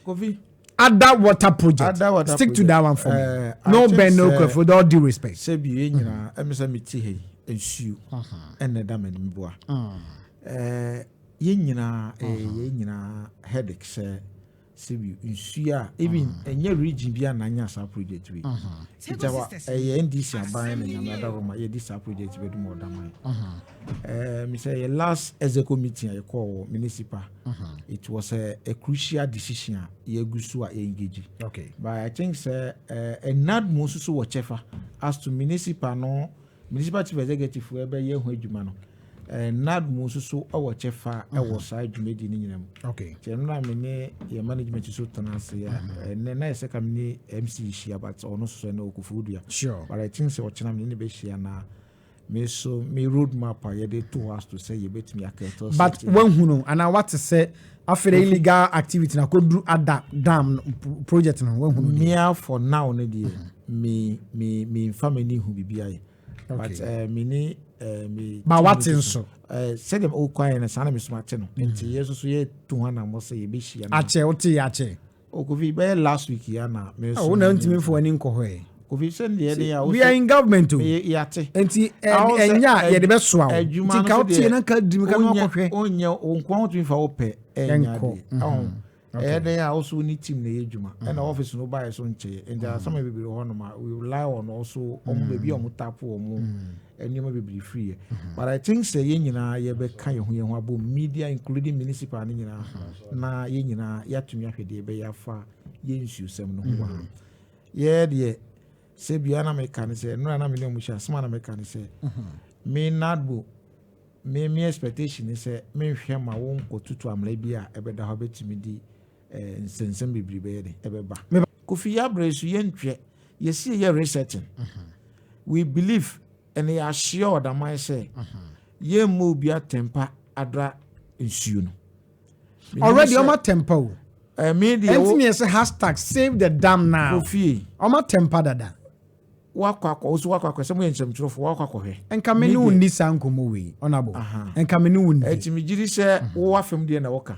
Kofi. Ada water project. Ada water Stick project. to that one for uh, me. Eh, no Ben, no Kofi. With all due respect. Sɛ bi yɛ nyinaa, ɛmi sɛ mi ti ha yi, nsuo, ɛna ɛda mi anim bua. Ɛɛ, yɛ nyinaa, ɛɛ, yɛ nyinaa headache sɛ sɛ bi nsuo a, even ɛnyɛ region bi a na anya saa project wi. Nti ɛyɛ NDC aban na nyame adawoma yɛ di saa project bɛ dum ɔdaman. Uh, me say last executive meeting I call municipal. Uh-huh. It was a, a crucial decision. Yeah, gusu a engage. Okay. But I think sir, uh, and not most so whatever as to municipal no municipal chief executive where be yeah who adwuma no. Eh, nad mu nso so wɔ kyɛfa mhm. wɔ saa dwumadi no nyinaa mu kyɛ no na me ne yɛ management so tena ase a mhm. ɛnɛ na yɛsɛ ka me ne mc hyia but ɔno so sɛ na ɔkɔfo dua but i think sɛ ɔkyena me ne bɛhyia na Me nso me road map a yɛde to hɔ aso sɛ yɛbɛtumi aka ɛtɔ but wahunu anaa wate sɛ afei illegal activity na kɔduru ada dam project no wahunu mea for now no deɛ mm-hmm. me me me nfa m'ani hu biribi ayɛ but eh, me ne eh, me ba wate nso eh, sɛdeɛ wokwaeɛ no saa na mesoma te no mm-hmm. nti yɛ nso so yɛtu ho anammɔ sɛ yɛbɛhyia no akyɛ wote yɛ akyɛ o kofi bɛyɛ last week ya na me nso wo na ntumi fo ani nkɔ hɔ ɛ kofi sɛ ndeɛ ne ya we are in government o yate nti ɛnya yɛde bɛsoa wo nti ka wotie na nka dimi ka na wakɔhwɛ onyɛ wo nkoa wotumi fa wopɛ ɛnya deɛ ɛho ɛyɛ dɛn a woso ne team na ɛyɛ adwuma ɛna office no baeɛ so nkyɛeɛ nti asɛm bebree hɔ nom a we rely on also ɔmo baabi a ɔmo tapo ɔmo nneɛma bebree firi yɛ mhm. but i think sɛ yɛn nyinaa yɛbɛka yɛn ho yɛn ho abɔ media including municipal no nyinaa mhm. na yɛn nyinaa yɛatumi ahwɛ deɛ ɛbɛyɛ afa yɛn nsuosɛm no ho mhm. yɛ deɛ sɛ bia na meka ne sɛ nnora na mene ɔmo hyɛ asɛm a na meka ne sɛ me nadbo me me expectation ne sɛ menhwɛ ma wo nkɔtutu amena bi a ɛbɛda hɔ bɛtumi di Nsɛnsɛm bebree bɛyɛ dɛ ɛbɛba. Kofi yabere so yɛn twɛ yɛsi yɛ researching mhm. we believe ɛna yɛ ahyia ɔdaman sɛ mhm. yɛn mma obi atɛmpa adra nsuo no. already ɔma tɛmpa o. ɛmi deɛ wo ɛnti mi yɛ sɛ hashtag save the dam now. kofi ɔma tɛmpa dada. Woakɔ akɔ, wo nso woakɔ akɔ, sɛ moyɛ nsɛmtwerɛfoɔ, woakɔ akɔhwɛ. Nka me ne wo nni saa nkɔmmɔ wei, Ɔnabɔ. Nka me ne wo nni. Ɛti megye di sɛ wo afem deɛ na woka.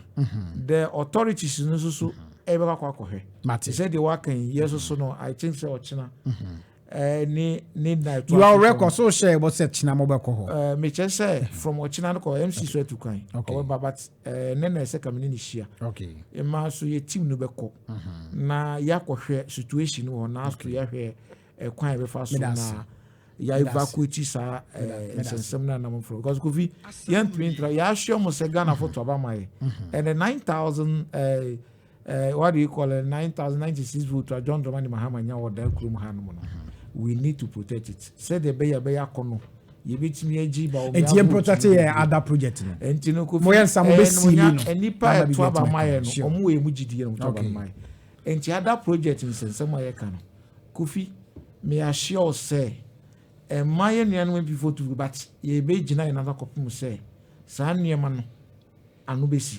The authorities no nso so ɛbɛkɔ akɔ akɔhwɛ. Mate. Sɛ deɛ woaka yi, yɛ nso so no, I think sɛ ɔkyena ne ne nna ɛto aso. You are record, so hyɛ ɛbɔ sɛ kyena mobɛkɔ hɔ. Mekyɛ sɛ from ɔkyena no kɔ MC so atu kwan. Okay. Ɔbɛba but ɛɛ ne na ɛsɛ ka me ne ne hyia mmaa so yɛ team no bɛkɔ mhm. na yɛakɔhwɛ situation wɔ hɔ na aso yɛhwɛ ɛkwan a yɛbɛfa so na yɛevacuate saa ɛɛ nsɛnsɛm no anam foro because kofi yɛntumi ntra yɛahwɛ mo sɛ ghana fo to aba ma yɛ ɛnɛ nine thousand ɛɛ. Eh, what do you call it, 9,096 votes a John Dramani Mahama nya wɔ daa kurom ha nom no, we need to protect it. Sɛdeɛ ɛbɛyɛ ɛbɛyɛ akɔ no, yɛbɛtumi agyi ba wɔn ɛtiɛ protect yɛ ada project no ɛnti no kofi moyɛ nsa mo bɛ si mi no eh, nipa ɛto aba ma yɛ no ɔmo wɔ emu gyidi yɛ no to aba ma yɛ ɛnti ada project nsɛnsɛm a yɛ ka no kofi may assure sɛ ɛma yɛ nuanom mpifo tu but yɛbɛgyina yɛn nana kɔpem sɛ saa nneɛma no ano bɛsi